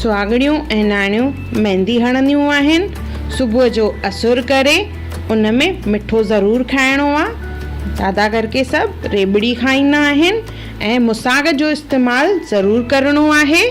سهاڳڻيون ۽ نياڻيون ميندي هڻنديون آهن. صبح جو اسور ڪري ان ۾ مٺو ضرور کائڻو آ. زياده ڪرڪي سڀ ريٻڙي کائيندا آهن ۽ مساڳ جو استعمال ضرور ڪرڻو آهي.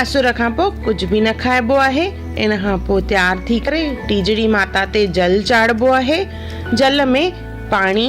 اسور کان پوء ڪجهه به نه کائبو آهي. ان کان پوء تيار ٿي ڪري ٽيجڙي ماتا تي جل چاڙهبو آهي. جل ۾ پاڻي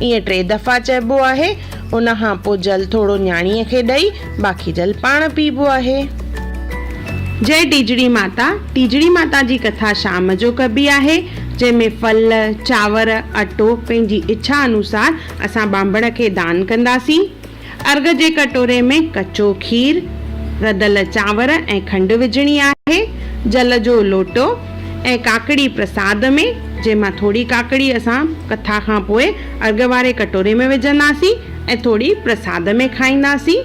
ائين ٽي دفعا چئبو آهي، ان کان پوء جل ٿورو نياڻيء کي ڏئي، باقي جل پاڻ پيئبو آهي. جئي ٽيجڙي ماتا، ٽيجڙي ماتا جي ڪٿا شام جو ڪبي آهي، جنهن ۾ ڦل، چانور، اٽو پنهنجي اڇا انوسار اسان ٻانڀڻ کي دان ڪنداسين. ارغ جي ڪٽوري ۾ ڪچو کير، رڌل چانور ۽ کنڊ وجهڻي آهي، جل جو لوٽو ۽ ڪاڪڙي پرساد ۾، جنهن مان ٿوري ڪاڪڙي اسان ڪٿا کان پوء ارغ واري ڪٽوري ۾ وجهنداسين ۽ ٿوري پرساد ۾ کائينداسين.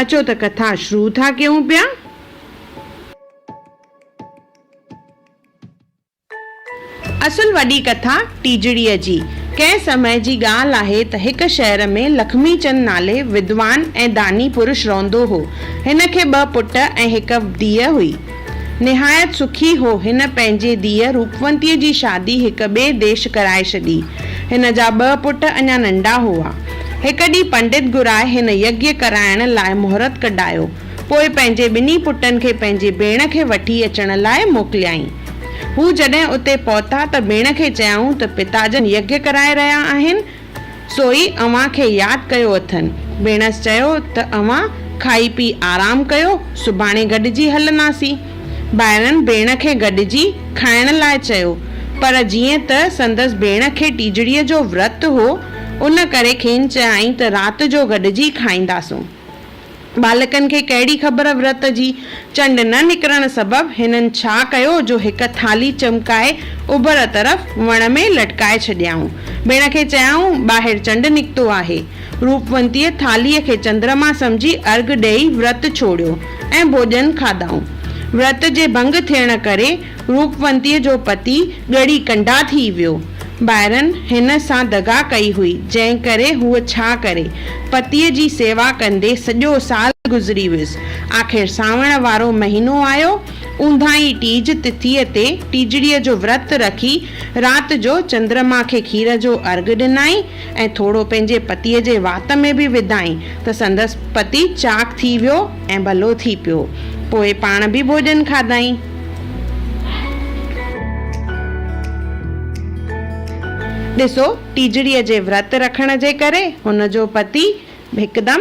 اچو ته ڪٿا شروع ٿا ڪيون پيا. اصل وڏي ڪٿا ٽيجڙيء جي، ڪنهن سمي جي ڳالهه آهي ته هڪ شهر ۾ لکمي چند نالي ودوان ۽ داني پرش رهندو هو. هن کي ٻه پٽ ۽ هڪ ڌيء هئي. نهايت سکي هو. هن پنهنجي ڌيء روپونتيء جي شادي هڪ ٻئي ديش ڪرائي ڇڏي. هن جا ٻه پٽ اڃا ننڍا هئا. هڪ ڏينهن پنڊت گهرائي هن يگيا ڪرائڻ لاء مهرت ڪڍايو. پوء پنهنجي ٻنهي پٽن کي پنهنجي ڀيڻ کي وٺي اچڻ لاء موڪليائين. هو جڏهن اتي پهتا ته ڀيڻ کي چيائون ته پتاجن يگيا ڪرائي رهيا آهن، سو ئي اوهان کي ياد ڪيو اٿن. ڀيڻس چيو ته اوهان کائي پي آرام ڪيو، سڀاڻي گڏجي هلنداسين. ڀائرن ڀيڻ کي گڏجي کائڻ لاء چيو، پر جيئن ته سندس ڀيڻ کي ٽيجڙيء جو ورت هو، ان ڪري کين چيائين ته رات جو گڏجي کائينداسون. ٻالڪن کي ڪهڙي خبر ورت جي؟ چنڊ نه نڪرڻ سبب هنن ڇا ڪيو جو هڪ ٿالهي چمڪائي اوڀر طرف وڻ ۾ لٽڪائي ڇڏيائون. ڀيڻ کي چيائون، ٻاهر چنڊ نڪتو آهي. روپونتيء ٿالهيء کي چندرما سمجهي ارگهه ڏيئي ورت ڇوڙيو ۽ ڀوڄن کاڌائون. ورت جي ڀنگ ٿيڻ ڪري روپونتيء جو پتي ڳڙي ڪنڊا ٿي ويو. ڀائرن هن سان دغا ڪئي هئي، جنهن ڪري هوء ڇا ڪري؟ پتيء جي سيوا ڪندي سڄو سال گذري ويس. آخر سانوڻ وارو مهينو آيو. اونداهين ٽيج تٿيء تي ٽيجڙيء جو ورت رکي، رات جو چندرما کي کير جو ارغ ڏنائين. ۽ ٿورو پنهنجي پتيء جي وات ۾ به وڌائين ته سندس پتي چاق ٿي ويو ۽ ڀلو ٿي پيو. پوء پاڻ به ڀوڄن کاڌائين. ڏسو، ٽيجڙيء جي ورت رکڻ جي ڪري هن جو پتي هڪدم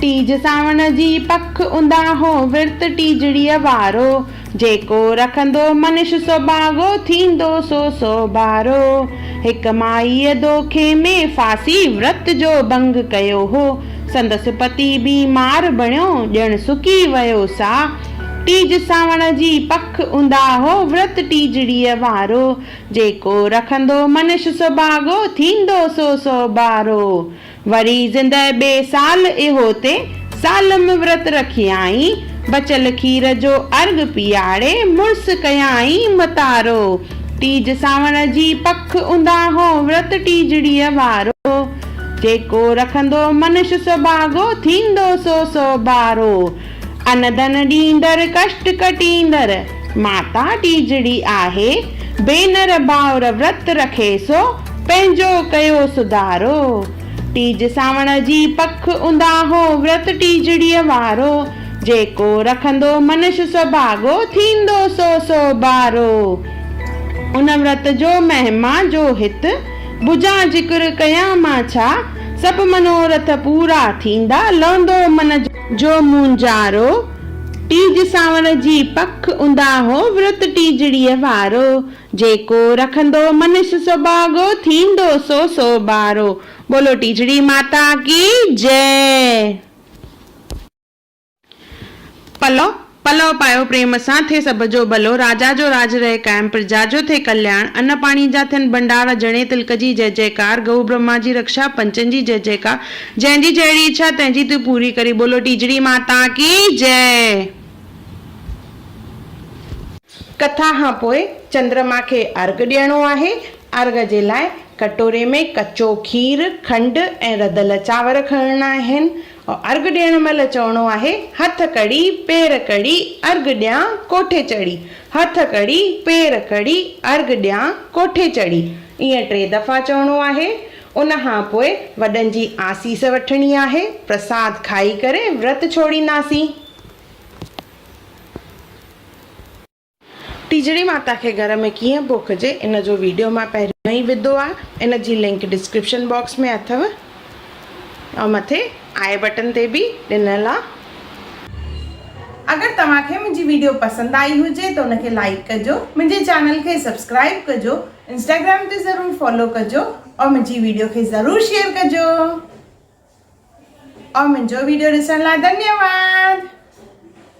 ٽيج سانوڻ جي پک اونداهو، ورت ٽيجڙيء وارو. جيڪو رکندو منش سڀاڳو، ٿيندو سو سو ڀارو. هڪ مائيء دوکي ۾ ڦاسي، ورت جو ڀنگ ڪيو هو. سندس پتي بيمار بڻيو، ڄڻ سڪي ويو سا. ٽيج سانوڻ جي پک اونداهو، ورت ٽيجڙيء وارو. جيڪو رکندو منش سڀاڳو، ٿيندو سو سو ٻارو. وري زندهه ٻي سال اهو تي، سالم ورت رکيائين. بچل کير جو ارغ پيئاڙي، مڙس ڪيائين متارو. ٽيج سانوڻ جي پڪ اونداهو، ورت ٽيجڙيء وارو. جيڪو رکندو منش سڀاڳو، ٿيندو سو سو ٻارو. ان ڌن ڏيندڙ ڪشٽ ڪٽيندڙ ماتا ٽيجڙي آهي، ڀينر ڀائر ورت رکي سو پنهنجو ڪيو سڌارو، ٽيج سانوڻ جي پک اونداهو ورت ٽيجڙيء وارو، جيڪو رکندو منش سڀاڳو ٿيندو سو سوڀارو، ان ورت جو مهما جو هت بجان ذڪر ڪيان مان ڇا، سڀ منورٿ پورا ٿيندا لهندو من جو. جو مونجهارو، ٽيج سانوڻ جي پک اونداهو ورت ٽيجڙيء وارو، جيڪو رکندو منش سڀاڳو، ٿيندو سو سو ٻارو، بولو ٽيجڙي ماتا ڪي جئه. پلو، پلؤ پايو پريم سان، ٿئي سڀ جو ڀلو، راجا جو راج رهي قائم، پرجا جو ٿئي ڪلياڻ، ان پاڻي جا ٿين ڀنڊار، جڻي تلڪ جي جئه جئڪار، گئو برهما جي رڪشا، پنچن جي جئه جئڪار، جنهن جي جهڙي اڇا، تنهن جي تون پوري ڪرين، بولو ٽيجڙي ماتا ڪي جئه. ڪٿا کان پوء چندرما کي ارگهه ڏيڻو آهي، ارگهه جي لاء ڪٽوري ۾ ڪچو کير، کنڊ ۽ رڌل چانور کڻڻا آهن، ارگ ڏيڻ مهل چوڻو آهي، هٿ ڪڙي، پير ڪڙي، ارگ ڏيان، ڪوٺي چڙهي. هٿ ڪڙي، پير ڪڙي، ارگ ڏيان، ڪوٺي چڙهي. ائين ٽي دفعا چوڻو آهي. ان کان پوء وڏن جي آسيس وٺڻي آهي. پرساد کائي ڪري ورت ڇوڙينداسين. ٽيجڙي ماتا کي گهر ۾ ڪيئن پوکجي ان جو ويڊيو مان پهريون ئي وڌو آ ان جي لنڪ ڊسڪرپشن باڪس ۾ اٿو ۽ مٿي آئي بٽن تي به ڏنل آ. اگر توهان کي منهنجي ويڊيو پسند آئي هجي ته ان کي لائيڪ ڪجو منهنجي چينل کي سبسڪرائيب ڪجو انسٽاگرام تي ضرور فالو ڪجو ۽ منهنجي ويڊيو کي ضرور شيئر ڪجو ۽ منهنجو ويڊيو ڏسڻ لاء ڌنيواد.